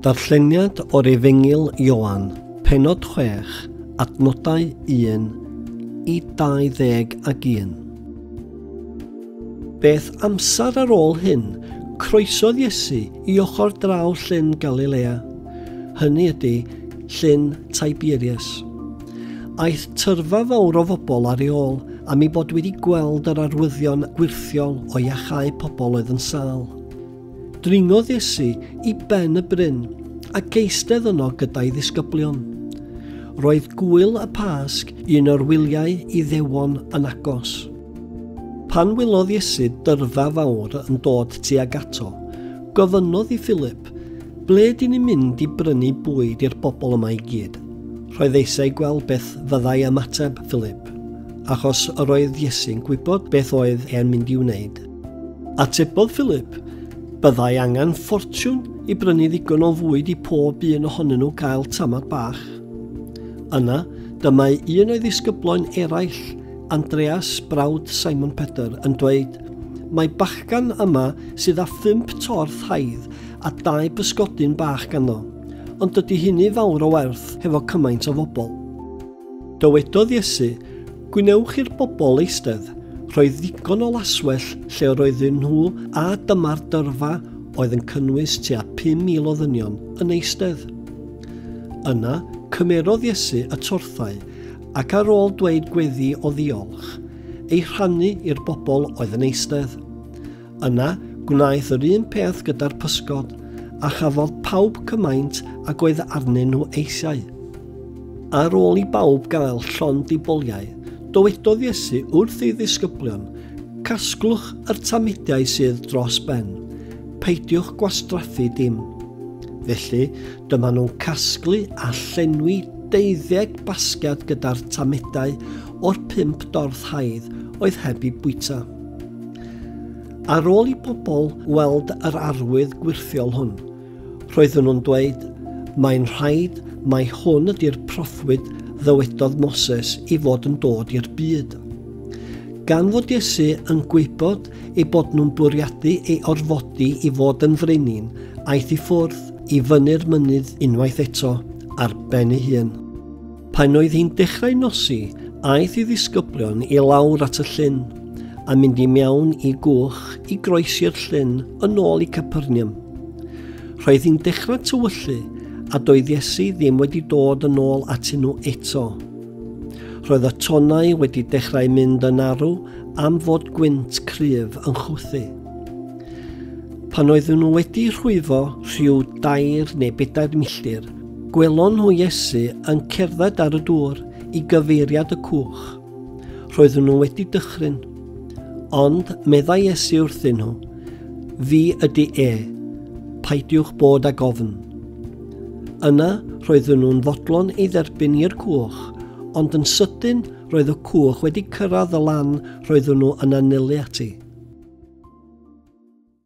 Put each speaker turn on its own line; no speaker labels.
Darlleniad o'r Efengyl Ioan, penod 6, adnodau 1 i 21. Beth amser ar ôl hyn, croesodd Iesu i ochr draw llyn Galilea, hynny ydy, llyn Tiberias. Aeth tyrfa fawr o fobl ar ei ôl am ei bod wedi gweld yr arwyddion gwirthiol o iachau pobl oedd yn sâl. Dringodd Iesu i ben y bryn a geistedd yno gyda'i ddisgyblion. Roedd gŵyl y Pasg, un o'r wyliau Iddewon, yn agos. Pan wylodd Iesu dyrfa fawr yn dod tuag ato, gofynnodd i Philip, Ble dyn ni'n mynd i brynu bwyd i'r bobl yma i gyd? Roedd eisiau gweld beth fyddai ymateb Philip, achos yr oedd Iesu'n gwybod beth oedd e'n mynd i wneud. Atebodd Philip, Byddai angen ffortiwn i brynu ddigon o fwyd i pob un ohonyn nhw gael tamad bach. Yna, dymau un o'i ddisgybloen eraill, Andreas, brawd Simon Pedr, yn dweud, Mae bachgan yma sydd â phump torth haidd a dau bysgodyn bach ganddo, ond dydy hynny fawr o werth hefo cymaint o fobl. Dywedodd Iesu, Gwnewch i'r bobl eistedd. Roedd ddigon o laswell lle yr oedden nhw a dyma'r dyrfa oedd yn cynnwys tua 5,000 o ddynion yn eistedd. Yna, cymerodd Iesu y torthau ac ar ôl dweud gweddi o ddiolch, ei rhannu i'r bobl oedd yn eistedd. Yna, gwnaeth yr un peth gyda'r pysgod, a chafodd pawb cymaint ag oedd arnyn nhw eisiau. Ar ôl i bawb gael llond i boliau, dywedodd Iesu wrth ei ddisgyblion, Casglwch yr tamudiau sydd dros ben, peidiwch gwastraffu dim. Felly, dyma nhw'n casglu a llenwi deuddeg basged gyda'r tamudau o'r pump dorth haidd oedd heb i bwyta. Ar ôl i bobl weld yr arwydd gwyrthiol hwn, roedden nhw'n dweud, Mae'n rhaid mai hwn ydy'r proffwyd ddywedodd Moses i fod yn dod i'r byd. Gan fod Iesu yn gwybod ei bod nhw'n bwriadu ei orfodi i fod yn frenin, aeth i ffwrdd i fyny'r mynydd unwaith eto ar ben ei hun. Pan oedd hi'n dechrau nosi, aeth i ddisgyblion i lawr at y llyn, a mynd i mewn i gwch i groesi'r llyn yn ôl i Capernium. Roedd hi'n dechrau tywyllu, a doedd Iesu ddim wedi dod yn ôl atyn nhw eto. Roedd y tonau wedi dechrau mynd yn arw am fod gwynt cryf yn chwthu. Pan oeddwn nhw wedi rhwyfo rhyw dair neu bedair milltir, Gwelon nhw Iesu yn cerdded ar y dŵr i gyfeiriad y cwch. Roedden nhw wedi dychryn. Ond meddai Iesu wrthyn nhw, Fi ydy e, paidiwch bod ag ofn. Yna roedden nhw'n fodlon ei dderbyn i'r cwch, ond yn sydyn roedd y cwch wedi cyrraedd y lan roedden nhw yn anelu ati.